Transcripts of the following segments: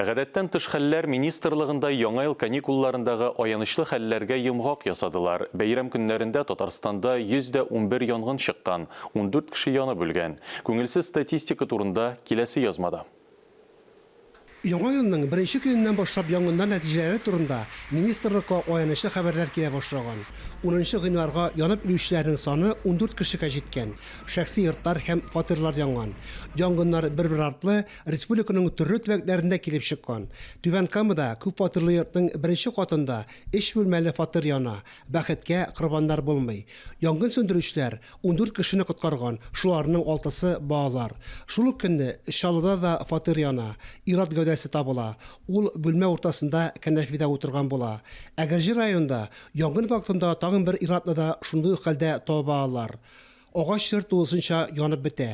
Гадәттән тыш хәлләр министрлыгында яңа ел каникулларындагы аянычлы хәлләргә йомгак ясадылар. Бәйрәм көннәрендә Татарстанда 100 дә унбер янгын чыккан, ундүрт кеше янып үлгән. Күңелсез статистика турында киләсе язмада. Яңа елның беренче көненнән башлап янгыннар нәтиҗәләре турында министрлыкка аянычлы хәбәрләр килә башлаган. Унынчы гыйнварга янып үлүчеләрнең саны ундүрт кешегә җиткән, шәхси йортлар һәм фатирлар янган. Янгыннар бер-бер артлы Республиканың төрле төбәкләрендә килеп чыккан. Түбән Камада күп фатирлы йортның беренче катында өч бүлмәле фатир яна. Бәхеткә, корбаннар булмый. Янгын сүндерүчеләр ундүрт кешене коткарган, шуларның алтысы, балалар. Шул ук көнне Чаллыда да фатир яна. Ир-ат гәүдәсе табыла. Ул бүлмә уртасында кәнәфидә утырган була. Әгерҗе районында янгын вакытында тагын бер ир-атны да шундый ук хәлдә таба алалар. Агачлар тулысынча янып бетә.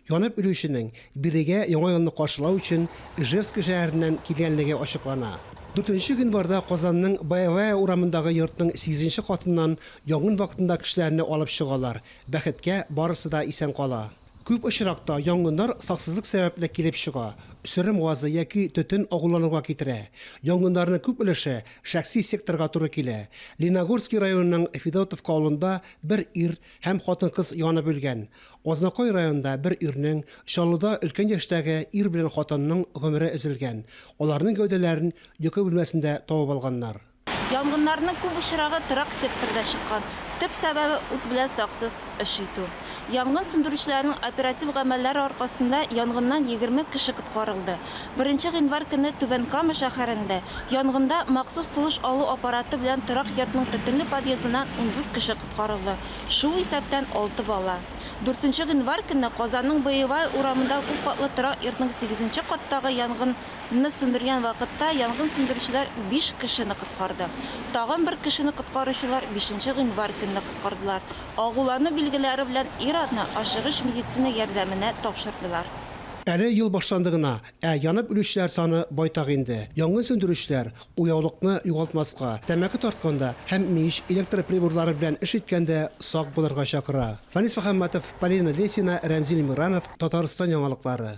Янып үлүченең бирегә Яңа елны каршылау өчен Ижевск шәһәреннән килгәнлеге ачыклана. Дүртенче гыйнварда Казанның Боевая урамындагы йортның сигезенче катыннан янгын вакытында кешеләрне алып чыгалар, бәхеткә, барысы да исән кала. Күп очракта янгыннар саксызлык сәбәпле килеп чыга, сөрем газы яки төтен агулануга китерә. Янгыннарның күп өлеше шәхси секторга туры килә. Леногорский районының Федотовка авылында бер ир һәм хатын-кыз янып үлгән. Азнакай районында бер ирнең, Чаллыда өлкән яшьтәге ир белән хатынның гомере өзелгән. Аларның гәүдәләрен йокы бүлмәсендә табып алганнар. Янгыннарның күп очрагы торак секторда чыккан. Төп сәбәбе, ут белән саксыз эш итү. Янгын сүндерүчеләрнең оператив гамәлләре аркасында янгыннан егерме кеше коткарылды. Беренче гыйнвар көнне Түбән Кама шәһәрендә янгында махсус сулыш алу аппараты белән торак йортның төтенле подъездыннан ундүрт кеше коткарылды, шул исәптән алты бала. Дүртенче гыйнвар көнне Казанның Боевая урамында күпкатлы торак йортның сигезенче каттагы янгынны сүндергән вакытта янгын сүндерүчеләр биш кешене коткарды. Тагын бер кешене коткаручылар бишенче гыйнвар көнне коткардылар. Агулану билгеләре белән ир-атны ашыгыч медицина ярдәменә тапшырдылар. Әле ел башланды гына, ә янып үлүчеләр саны байтак инде. Янгын сүндерүчеләр Уяулыкны югалтмаска, тәмәке тартканда һәм мич, электр приборлары белән эш иткәндә сак булырга чакыра. Фанис Мөхәммәтов, Полина Лесина, Рәмзил Миранов, Татарстан яңалыклары.